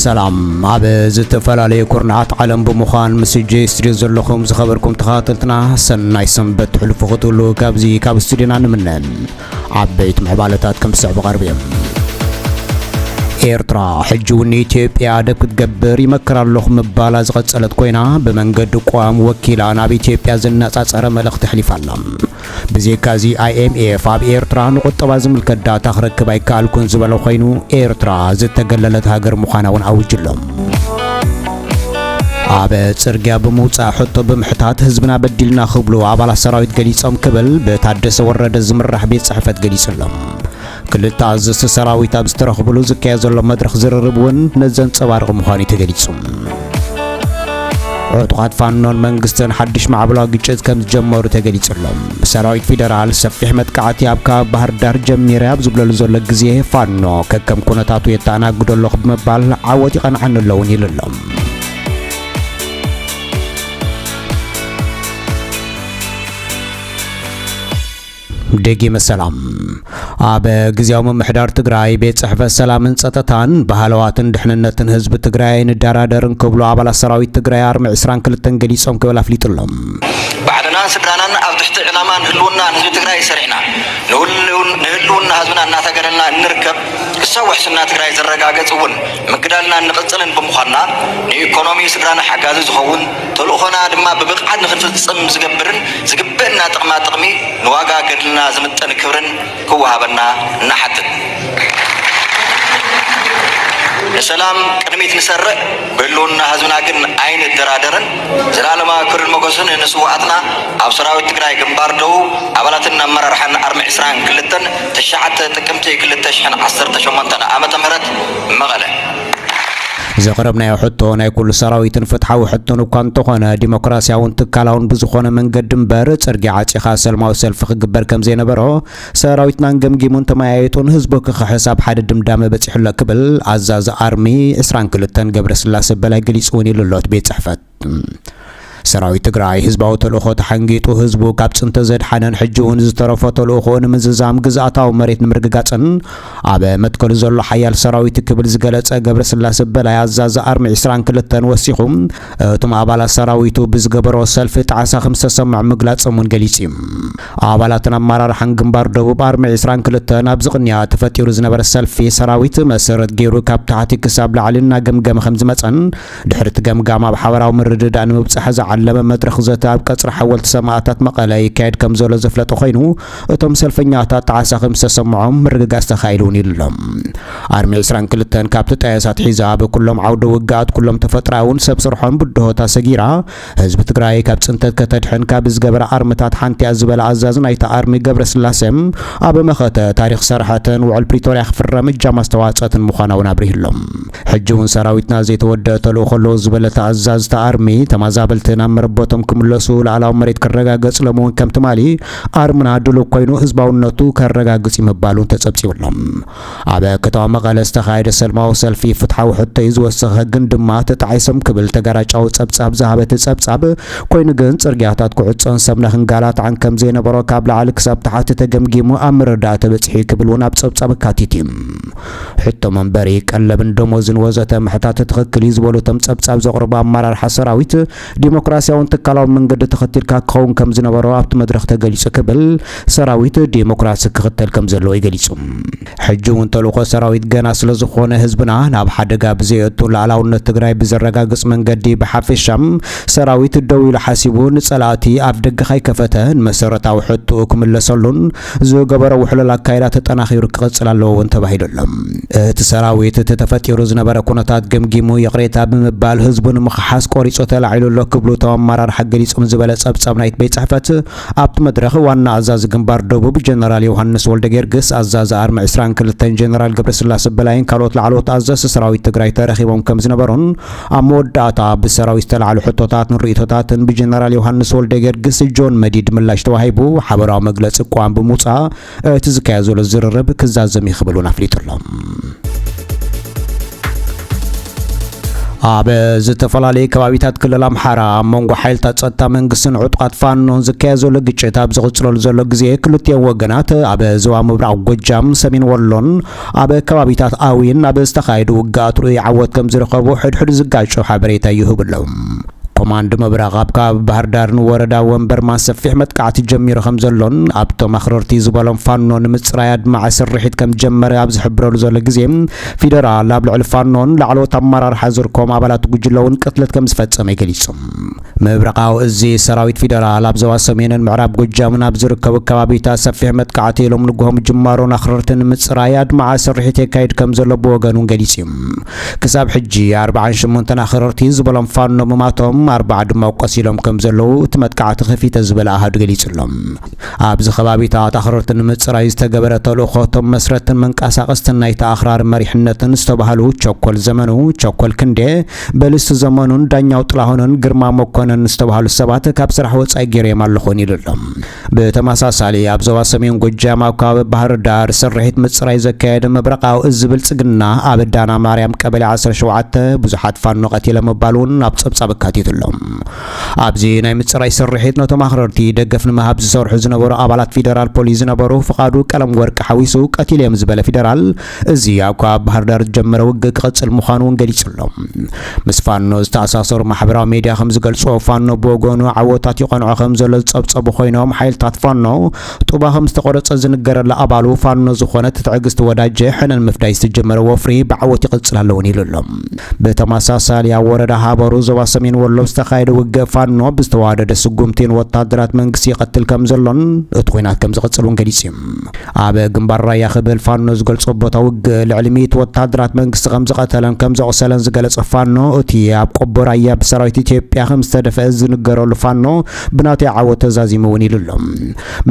ሰላም ኣብ ዝተፈላለዩ ኩርናዓት ዓለም ብምዃን ምስ ጄ ስቱድዮ ዘለኹም ዝኸበርኩም ተኸታተልትና ሰናይ ሰንበት ትሕልፉ ክትብሉ ካብዚ ካብ ስቱድዮና ንምነ ዓበይቲ ምዕባለታት ከም ዝስዕብ ቀርብ እዮም ኤርትራ ሕጂ እውን ንኢትዮጵያ ደብ ክትገብር ይመክር ኣለኹ ምባላ ዝቐጸለት ኮይና ብመንገዲ ቋም ወኪላ ናብ ኢትዮጵያ ዘነጻጸረ መልእኽቲ ኣሕሊፋ ኣላ ብዜካዚ IMF ኣብ ኤርትራ ንቁጠባ ዝምልከት ዳታ ክረክብ ኣይከኣልኩን ዝበለ ኮይኑ ኤርትራ ዝተገለለት ሃገር ምዃና እውን ኣዊጁ ኣሎ። ኣብ ጽርግያ ብምውጻእ ሕቶ ብምሕታት ህዝብና በዲልና ክብሉ ኣባላት ሰራዊት ገሊጾም ክብል ብታደሰ ወረደ ዝምራሕ ቤት ጽሕፈት ገሊጹ ኣሎ። ክልተ ኣዘዝቲ ሰራዊት ኣብ ዝተረኽብሉ ዝካየድ ዘሎ መድረኽ ዝርርብ እውን ነዚ ዘንጸባርቕ ምዃኑ'ዩ ተገሊጹ። ዕጡቓት ፋኖን መንግስትን ሓድሽ ማዕበላዊ ግጭት ከም ዝጀመሩ ተገሊጹ ኣሎ። ሰራዊት ፌደራል ሰፊሕ መጥቃዕቲ ኣብ ከባቢ ባህር ዳር ጀሚረ ኣብ ዝብለሉ ዘሎ ግዜ ፋኖ ከከም ኩነታቱ የተኣናግዶ ኣለኹ ብምባል ዓወት ይቐንዓኒ ኣሎ እውን ኢሉ ኣሎ። ደጊመ ሰላም ኣብ ግዜያዊ ምምሕዳር ትግራይ ቤት ጽሕፈት ሰላምን ጸጥታን ባህለዋትን ድሕንነትን ህዝቢ ትግራይ ኣይንደራደርን ክብሉ ኣባላት ሰራዊት ትግራይ ኣርሚ 22 ገሊጾም ክብል ኣፍሊጡ ኣሎ። ባዕልናን ስድራናን ኣብ ትሕቲ ዕላማን ህልውናን ህዝቢ ትግራይ ሰሪዕና ንህልውና ህዝብና እናተገደልና እንርከብ ክሳብ ውሕስና ትግራይ ዝረጋገፅ እውን ምግዳልና እንቕፅልን ብምዃንና ንኢኮኖሚ ስድራና ሓጋዚ ዝኸውን ተልእኾና ድማ ብብቕዓት ንኽንፍጽም ዝገብርን ዝግበእና ጥቕማ ጥቕሚ ንዋጋ ገድልና ዝምጥን ክብርን ክወሃበና እንሓትት። ንሰላም ቅድሚት ንሰርዕ፣ ብህልውና ህዝብና ግን ኣይንደራደርን። ዘልኣለማዊ ክብርን ሞገስን ንስውኣትና፣ ኣብ ሰራዊት ትግራይ ግንባር ደቡብ፣ ኣባላትን ኣመራርሓን ኣርሚ ዕስራን ክልተን ትሽዓተ ጥቅምቲ ክልተ ሽሕን ዓሰርተ ሸሞንተን ዓመተ ምህረት መቐለ። ዘቕረብናዮ ሕቶ ናይ ኩሉ ሰራዊትን ፍትሓዊ ሕቶን እኳ እንተኾነ ዲሞክራሲያውን ትካላውን ብዝኾነ መንገዲ እምበር ጽርግያ ዓጺኻ ሰልማዊ ሰልፊ ክግበር ከምዘይነበሮ ሰራዊትናን ገምጊሙን ተመያይጡን ህዝቡ ክኽሕስ ኣብ ሓደ ድምዳመ በጺሑሎ ክብል ኣዛዚ ኣርሚ ዕስራን ክልተን ገብረስላሰ በላይ ገሊጹ እውን ኢሉሎት ቤት ጽሕፈት ሰራዊት ትግራይ ህዝባዊ ተልእኾ ተሓንጊጡ ህዝቡ ካብ ፅንተ ዘድሓነን ሕጂ እውን ዝተረፎ ተልእኾ ንምዝዛም ግዝኣታዊ መሬት ንምርግጋፅን ኣብ መትከሉ ዘሎ ሓያል ሰራዊት ክብል ዝገለፀ ገብረ ስላሴ በላይ ኣዛዚ ኣርሚ 22 ወሲኹ እቶም ኣባላት ሰራዊቱ ብዝገበሮ ሰልፊ ጣዕሳ ከም ዝተሰምዖ ምግላፆም እውን ገሊፁ እዩ። ኣባላትን ኣመራርሓን ግንባር ደቡብ ኣርሚ 22 ኣብ ዝቕንያ ተፈጢሩ ዝነበረ ሰልፊ ሰራዊት መሰረት ገይሩ ካብ ታሕቲ ክሳብ ላዕሊ እናገምገመ ከም ዝመፀን ድሕሪ እቲ ገምጋም ኣብ ሓበራዊ ምርድዳእ ንምብፃሕ ዝዓለመ መድረኽ ዘተ ኣብ ቀፅሪ ሓወልቲ ሰማእታት መቐለ ይካየድ ከምዘሎ ዘፍለጠ ኮይኑ እቶም ሰልፈኛታት ጣዕሳ ከምዝተሰምዖም ምርግጋፅ ተኻኢሉ እውን ኢሉ ኣርሚ 22 ካብቲ ጠያሳት ሒዛ ኣብ ኩሎም ዓውደ ውግኣት ኩሎም ተፈጥራውን ሰብ ስርሖን ብድሆታት ሰጊራ ህዝቢ ትግራይ ካብ ፅንተት ከተድሕን ካብ ዝገበራ ኣርምታት ሓንቲያ ዝበለ ኣዛዚ ናይቲ ኣርሚ ገብረስላሰ ኣብ መኸተ ታሪኽ ሰርሐትን ውዕል ፕሪቶርያ ክፍረም እጃም ኣስተዋፀትን ምዃና እውን ኣብሪሁ ኣሎ። ሕጂ እውን ሰራዊትና ዘይተወደአ ተልእኾ ኣለዎ ዝበለ እቲ ኣዛዚ እቲ ኣርሚ ተማዛበልቲ ናብ መረበቶም ክምለሱ ላእላዊ መሬት ክረጋገፅ ሎሚ እውን ከም ትማሊ ኣርምና ድሉው ኮይኑ ህዝባውነቱ ከረጋግፅ እዩ ምባሉ ተፀብፂቡ ኣሎ። ኣብ ከተማ መቐለ ዝተኻየደ ሰልማዊ ሰልፊ ፍትሓዊ ሕቶ'ዩ ዝወሰኸ ግን ድማ ተጣዒሶም ክብል ተጋራጫዊ ጸብጻብ ዝሃበ እቲ ጸብጻብ ኮይኑ ግን ጽርግያታት ክዕጾን ሰብ ንክንጋላታዕን ከምዘይነበሮ ካብ ላዕሊ ክሳብ ታሕቲ ተገምጊሙ ኣብ ምርዳእ ተበጺሑ'ዩ ክብል እውን ኣብ ጸብጻብ ኣካቲቱ። ሕቶ መንበሪ፣ ቀለብን ደሞዝን ወዘተ ምሕታት ትኽክል እዩ ዝበሉ እቶም ጸብጻብ ዘቕርቡ ኣመራርሓ ሰራዊት፣ ዴሞክራሲያውን ትካላውን መንገዲ ተኸቲልካ ክኸውን ከምዝነበሮ ኣብቲ መድረኽ ተገሊፁ ክብል ሰራዊት ዴሞክራሲ ክኽተል ከምዘለዎ'ዩ ገሊፁ። ሕጂ እውን ተልእኾ ሰራዊት ገና ስለዝኾነ ህዝብና ናብ ሓደጋ ብዘየእቱ ላእላውነት ትግራይ ብዘረጋግፅ መንገዲ ብሓፌሻ ሰራዊት ደው ኢሉ ሓሲቡ ንፀላእቲ ኣፍደገ ከይከፈተ ንመሰረታዊ ሕትኡ ክምለሰሉን ዝገበሮ ውሕሉል ኣካይዳ ተጠናኺሩ ክቕፅል ኣለዎ እውን ተባሂሉ ኣሎ። እቲ ሰራዊት እቲ ተፈጢሩ ዝነበረ ኩነታት ገምጊሙ ይቕሬታ ብምባል ህዝቡ ንምኽሓስ ቆሪፁ ተላዒሉ ኣሎ ክብሉ እቶም ኣመራርሓ ገሊፆም ዝበለ ፀብፃብ ናይቲ ቤት ፅሕፈት ኣብቲ መድረኽ ዋና ኣዛዚ ግንባር ደቡብ ጀነራል ዮሃንስ ወልደጌርግስ፣ ኣዛዚ ኣርሚ ዕስራን ክልተን ጀነራል ገብረስላሰ በላይን ካልኦት ላዕለዎት ኣዘዝቲ ሰራዊት ትግራይ ተረኺቦም ከምዝነበሩን ኣብ መወዳእታ ብሰራዊት ዝተላዕሉ ሕቶታትን ርእይቶታትን ብጀነራል ዮሃንስ ወልደገርግስ፣ ጆን መዲድ፣ ምላሽ ተዋሂቡ ሓበራዊ መግለጺ ቅዋም ብምውጻእ እቲ ዝካየድ ዘሎ ዝርርብ ክዛዘም እዩ ክብል እውን ኣፍሊጡ ኣሎ። ኣብ ዝተፈላለዩ ከባቢታት ክልል ኣምሓራ ኣብ መንጎ ሓይልታት ጸጥታ መንግስትን ዕጡቓት ፋኖን ዝካየድ ዘሎ ግጭት ኣብ ዝቕጽለሉ ዘሎ ግዜ ክልቲኦም ወገናት ኣብ ዞባ ምብራቕ ጎጃም፣ ሰሜን ወሎን ኣብ ከባቢታት ኣውይን ኣብ ዝተኻየዱ ውግኣት ርኡይ ዓወት ከምዝረኸቡ ሕድሕድ ዝጋጮ ሓበሬታ ይህቡ ኣለዉ። ኮማንድ ምብራቕ ኣብ ከባቢ ባህርዳር ንወረዳ ወንበርማ ሰፊሕ መጥቃዕቲ ጀሚሩ ከምዘሎን ኣብቶም ኣኽረርቲ ዝበሎም ፋኖ ንምጽራይ ኣድማዒ ስርሒት ከምዝጀመረ ኣብ ዝሕብረሉ ዘሎ ግዜ ፊደራል ኣብ ልዕሊ ፋኖን ላዕለዎት ኣመራርሓ ዝርከቦም ኣባላት ጉጅለ'ውን ቅትለት ከምዝፈጸመ ገሊጹ። ምብራቓዊ እዚ ሰራዊት ፊደራል ኣብ ዞባ ሰሜንን ምዕራብ ጎጃምን ኣብ ዝርከቡ ከባቢታት ሰፊሕ መጥቃዕቲ ሎም ንግሆ ምጅማሩን ኣኽረርቲ ንምፅራይ ኣድማዓ ስርሒት የካይድ ከም ዘሎ ብወገኑ ገሊፁ እዩ። ክሳብ ሕጂ ኣርብዓን ሸሞንተን ኣኽረርቲ ዝበሎም ፋኖ ምማቶም ኣርባዓ ድማ ቆሲሎም ከም ዘለዉ እቲ መጥቃዕቲ ከፊተ ዝበለ ኣሃዱ ገሊፁ ኣሎ። ኣብዚ ከባቢታት ኣኽረርቲ ንምፅራይ ዝተገበረ ተልእኾ እቶም መስረትን መንቀሳቐስትን ናይቲ ኣኽራሪ መሪሕነትን ዝተባህሉ ቸኮል ዘመኑ፣ ቸኮል ክንዴ፣ በልስ ዘመኑን ዳኛው ጥላሁንን ግርማ መኮነን ዝተባህሉ ሰባት ካብ ስራሕ ወጻኢ ገይረዮም ኣለኹን ኢሉ ኣሎ። ብተመሳሳሊ ኣብ ዞባ ሰሜን ጎጃም ኣብ ከባቢ ባህር ዳር ስርሒት ምጽራይ ዘካየደ መብረቃዊ እዚ ብልጽግና ኣብ ዳና ማርያም ቀበሌ ዓሰርተ ሸውዓተ ብዙሓት ፋኖ ቀቲለ ምባሉ እውን ኣብ ጸብጻብ ኣካቲቱ ኣሎ። ኣብዚ ናይ ምጽራይ ስርሒት ነቶም ኣኽረርቲ ደገፍ ንምሃብ ዝሰርሑ ዝነበሩ ኣባላት ፊደራል ፖሊስ ዝነበሩ ፍቃዱ ቀለም ወርቂ ሓዊሱ ቀቲለዮም ዝበለ ፊደራል እዚ ኣብ ከባቢ ባህርዳር ዝጀመረ ውግእ ክቕጽል ምዃኑ እውን ገሊጹ ኣሎ። ምስ ፋኖ ዝተኣሳሰሩ ማሕበራዊ ሜድያ ከም ዝገልጽዎ፣ ፋኖ ብወገኑ ዓወታት ይቐንዖ ከም ዘሎ ዝጸብጸቡ ኾይኖም፣ ሓይልታት ፋኖ ጡባ ከም ዝተቖረጸ ዝንገረላ ኣባሉ ፋኖ ዝኾነት ትዕግስት ወዳጀ፣ ሕነ ንምፍዳይ ዝተጀመረ ወፍሪ ብዓወት ይቕጽል ኣሎ እውን ኢሉ ኣሎ። ብተመሳሳሊ ኣብ ወረዳ ሃበሩ ዞባ ሰሜን ወሎ ብዝተኻየደ ውግእ ፋኖ ብዝተዋደደ ስጉምቲ ንወታደራት መንግስቲ ይቐትል ከም ዘሎን እቲ ኹናት ከም ዝቕጽል እውን ገሊጹ እዩ። ኣብ ግንባር ራያ ክብል ፋኖ ዝገልጾ ቦታ ውግእ ልዕሊ ሚእቲ ወተሃደራት መንግስቲ ከም ዝቐተለን ከም ዘቑሰለን ዝገለጸ ፋኖ እቲ ኣብ ቆቦ ራያ ብሰራዊት ኢትዮጵያ ከም ዝተደፍአ ዝንገረሉ ፋኖ ብናተይ ዓወት ተዛዚሙ እውን ኢሉ ኣሎ።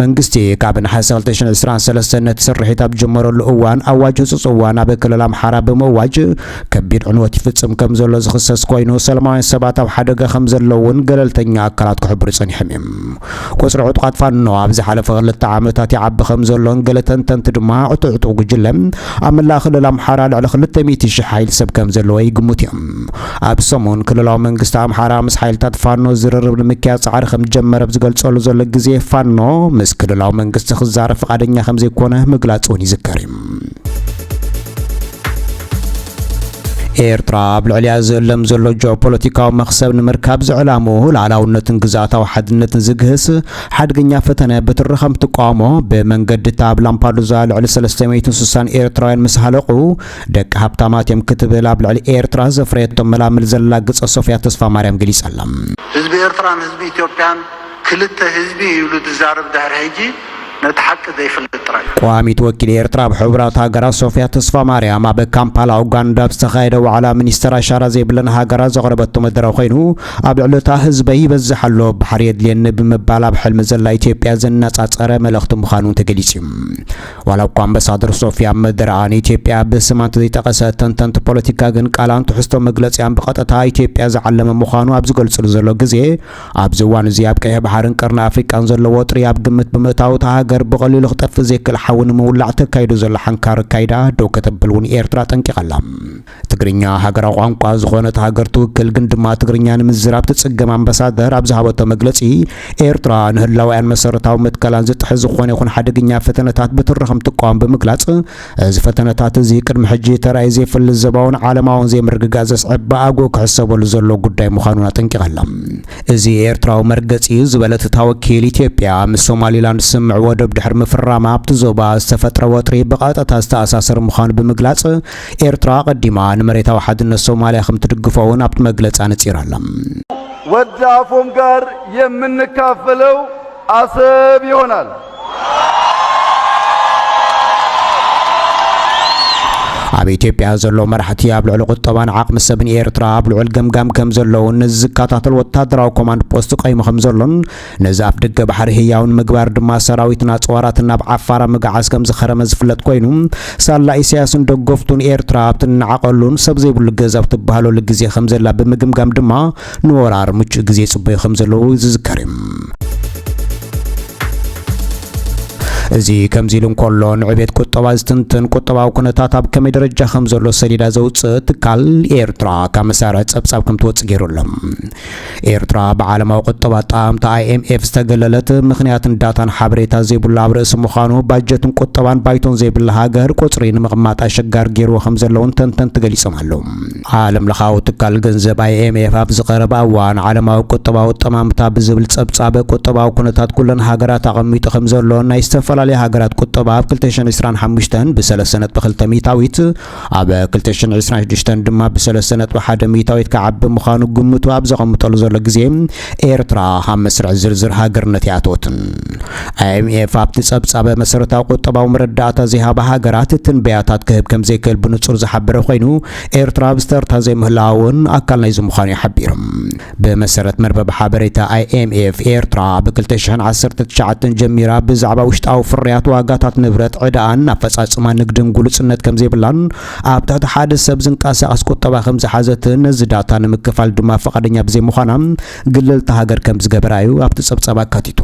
መንግስቲ ካብ ነሓሰ 2023 ነቲ ስርሒት ኣብ ዝጀመረሉ እዋን ኣዋጅ ህጹጽ እዋን ኣብ ክልል ኣምሓራ ብምእዋጅ ከቢድ ዕንወት ይፍጽም ከም ዘሎ ዝኽሰስ ኮይኑ ሰላማውያን ሰባት ኣብ ሓደጋ ከም ዘለዉ እውን ገለልተኛ ኣካላት ክሕብሩ ጸኒሖም እዮም። ቁጽሪ ዕጡቓት ፋኖ ኣብ ዝሓለፈ ክልተ ዓመታት ይዓቢ ከም ዘሎን ገለ ተንተንቲ ድማ እቲ ዕጡቕ ጉጅለ ኣብ መላእ ክልል ኣምሓራ ልዕሊ ክልተ ሚእቲ ሽሕ ሓይሊ ሰብ ከም ዘለዎ ይግምቱ እዮም። ኣብ ሰሙን ክልላዊ መንግስቲ ኣምሓራ ምስ ሓይልታት ፋኖ ዝርርብ ንምክያድ ጻዕሪ ከም ዝጀመረ ኣብ ዝገልጸሉ ዘሎ ግዜ ፋኖ ምስ ክልላዊ መንግስቲ ክዛረብ ፍቓደኛ ከም ዘይኮነ ምግላጹ እውን ይዝከር እዩ። ኤርትራ ኣብ ልዕሊያ ዝእለም ዘሎ ጂኦፖለቲካዊ መኽሰብ ንምርካብ ዝዕላምኡ ላዕላውነትን ግዝኣታዊ ሓድነትን ዝግህስ ሓድገኛ ፈተነ ብትሪ ከም ትቋሞ ብመንገዲ እታ ኣብ ላምፓዱዛ ልዕሊ 360 ኤርትራውያን ምስ ሃለቑ ደቂ ሃብታማት እዮም ክትብል ኣብ ልዕሊ ኤርትራ ዘፍረየቶ መላምል ዘላግጸ ሶፍያ ተስፋ ማርያም ገሊጻ ኣላ። ህዝቢ ኤርትራን ህዝቢ ኢትዮጵያን ክልተ ህዝቢ ይብሉ ዝዛረብ ድሕሪ ሕጂ ነቲ ሓቂ ዘይፍልጥ ጥራይ እዩ። ቀዋሚት ወኪል ኤርትራ ኣብ ሕቡራት ሃገራት ሶፍያ ተስፋማርያም ኣብ ካምፓላ ኡጋንዳ ኣብ ዝተኻየደ ዋዕላ ሚኒስተር ኣሻራ ዘይብለን ሃገራት ዘቕረበቶ መደረ ኮይኑ ኣብ ልዕሊ እታ ህዝበይ ይበዝሕ ኣሎ ባሕሪ የድልየኒ ብምባል ኣብ ሕልሚ ዘላ ኢትዮጵያ ዘነጻጸረ መልእኽቲ ምዃኑ ተገሊጹ ዋላ እኳ ኣምበሳደር ሶፍያ ኣብ መደረኣ ንኢትዮጵያ ብስማ እንተዘይጠቐሰት ተንተንቲ ፖለቲካ ግን ቃላን ትሕዝቶ መግለጺኣን ብቐጥታ ኢትዮጵያ ዝዓለመ ምዃኑ ኣብ ዝገልጽሉ ዘሎ ግዜ ኣብዚ እዋን'ዚ ኣብ ቀይሕ ባሕርን ቀርኒ ኣፍሪቃን ዘሎ ወጥሪ ኣብ ግምት ብምእታው እታ ሃገር ብቐሊሉ ክጠፍእ ዘይክእል ሓዊ ንምውላዕ ተካይዶ ዘላ ሓንካር ኣካይዳ ደው ከተብል እውን ኤርትራ ኣጠንቂቓ ኣላ። ትግርኛ ሃገራዊ ቋንቋ ዝኾነት ሃገር ትውክል ግን ድማ ትግርኛ ንምዝራብ ትጽገም ኣምበሳደር ኣብ ዝሃበቶ መግለጺ ኤርትራ ንህላወኣን መሰረታዊ መትከላን ዝጥሕስ ዝኾነ ይኹን ሓደገኛ ፈተነታት ብትሪ ከምትቋወም ብምግላጽ እዚ ፈተነታት እዚ ቅድሚ ሕጂ ተራእዩ ዘይፈልጥ ዘባውን ዓለማውን ዘይምርግጋእ ዘስዕብ ብኣግኡ ክሕሰበሉ ዘለዎ ጉዳይ ምዃኑ ኣጠንቂቐላ። እዚ ኤርትራዊ መርገጺ እዩ ዝበለት እታ ወኪል፣ ኢትዮጵያ ምስ ሶማሊላንድ ስምምዕ ወደብ ድሕሪ ምፍራማ ኣብቲ ዞባ ዝተፈጥረ ወጥሪ ብቐጥታ ዝተኣሳሰር ምዃኑ ብምግላጽ፣ ኤርትራ ኣቐዲማ ንመሬታዊ ሓድነት ሶማልያ ከምትድግፎ'ውን ኣብቲ መግለጺ ኣነጺራ'ላ። ወዲ ኣፎም ጋር የምንካፈለው ኣሰብ ይሆናል። ኣብ ኢትዮጵያ ዘሎ መራሕቲ ኣብ ልዕሊ ቁጠባን ዓቕሚ ሰብን ኤርትራ ኣብ ልዑል ገምጋም ከም ዘለውን ነዚ ዝከታተል ወታደራዊ ኮማንድ ፖስት ቀይሙ ከም ዘሎን ነዚ ኣፍ ደገ ባሕሪ ህያው ንምግባር ድማ ሰራዊትን ኣጽዋራትን ናብ ዓፋራ ምግዓዝ ከም ዝኸረመ ዝፍለጥ ኮይኑ ሳላ ኢሳያስን ደገፍቱን ኤርትራ ኣብቲ ንዓቐሉን ሰብ ዘይብሉ ገዛ ኣብ ትበሃለሉ ግዜ ከም ዘላ ብምግምጋም ድማ ንወራር ምቹእ ግዜ ይጽበዩ ከም ዘለዉ ዝዝከር እዩ። እዚ ከምዚ ኢሉ እንከሎ ንዕቤት ቁጠባ ዝትንትን ቁጠባዊ ኩነታት ኣብ ከመይ ደረጃ ከም ዘሎ ሰሌዳ ዘውጽእ ትካል ኤርትራ ካብ መሳርሒ ጸብጻብ ከም ትወጽእ ገይሩ ኣሎ። ኤርትራ ብዓለማዊ ቁጠባ ኣጠማምታ IMF ዝተገለለት ምኽንያትን ዳታን ሓበሬታ ዘይብሉ ኣብ ርእሲ ምዃኑ ባጀትን ቁጠባን ባይቶን ዘይብላ ሃገር ቁጽሪ ንምቕማጥ ኣሸጋሪ ገይርዎ ከም ዘለውን ተንተንቲ ገሊጾም ኣለዉ። ዓለምለኻዊ ትካል ገንዘብ ኣይኤምኤፍ ኣብዚ ቀረባ እዋን ዓለማዊ ቁጠባዊ ጠማምታ ብዝብል ጸብጻብ ቁጠባዊ ኩነታት ኩለን ሃገራት ኣቐሚጡ ከም ዘሎ ናይ ዝተፈላለያ ሃገራት ቁጠባ ኣብ 2025 ብሰለስተ ነጥቢ ክልተ ሚእታዊት ኣብ 2026 ድማ ብሰለስተ ነጥቢ ሓደ ሚእታዊት ክዓቢ ምዃኑ ግምቱ ኣብ ዘቐምጠሉ ዘሎ ግዜ ኤርትራ ኣብ መስርዕ ዝርዝር ሃገርነት ይኣተወትን ኣይኤምኤፍ ኣብቲ ጸብጻበ መሰረታዊ ቁጠባዊ መረዳእታ ዘይሃባ ሃገራት ትንበያታት ክህብ ከም ዘይክእል ብንጹር ዝሓበረ ኮይኑ ኤርትራ ኣብ ዝተርታ ዘይምህላዋ እውን ኣካል ናይዚ ምዃኑ'ዩ ሓቢሩ። ብመሰረት መርበብ ሓበሬታ ኣይኤምኤፍ፣ ኤርትራ ብ ክልተ ሽሕን ዓሰርተ ትሽዓተን ጀሚራ ብዛዕባ ውሽጣዊ ፍርያት፣ ዋጋታት ንብረት፣ ዕዳኣን ኣፈጻጽማ ንግድን ግሉጽነት ከምዘይብላን ኣብ ትሕቲ ሓደ ሰብ ዝንቀሳቐስ ቁጠባ ከምዝሓዘትን ነዚ ዳታ ንምክፋል ድማ ፍቓደኛ ብዘይምዃና ግልልቲ ሃገር ከም ዝገበራ'ዩ ኣብቲ ጸብጻብ ኣካቲቱ።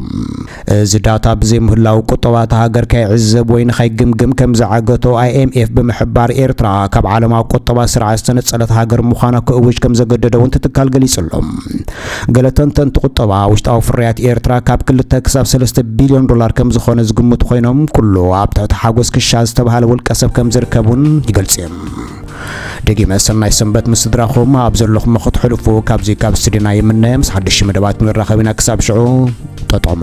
እዚ ዳታ ብዘይምህላዉ ቁጠባ እታ ሃገር ከይዕዘብ ወይ ንኸይግምግም ከም ዝዓገቶ ኣይኤምኤፍ ብምሕባር፣ ኤርትራ ካብ ዓለማዊ ቁጠባ ስርዓት ዝተነጸለት ሃገር ምዃና ክእውጅ ከም ዘገደደ'ውን እቲ ትካል ገሊጹ ኣሎ። ገለ ተንተንቲ ቁጠባ፣ ውሽጣዊ ፍርያት ኤርትራ ካብ ክልተ ክሳብ ሰለስተ ቢልዮን ዶላር ከም ዝኾነ ዝግምቱ ኮይኖም፣ ኩሉ ኣብ ትሕቲ ሓጎስ ክሻ ዝተበሃለ ውልቀሰብ ከም ዝርከብ'ውን ይገልጹ'ዮም። ደጊመ ሰናይ ሰንበት ምስ ስድራኹም ኣብ ዘለኹሞ ክትሕልፉ ካብዚ ካብ ስድና ይምነ ምስ ሓድሽ መደባት ክንራኸብ ኢና ክሳብ ሽዑ ጠጠሙ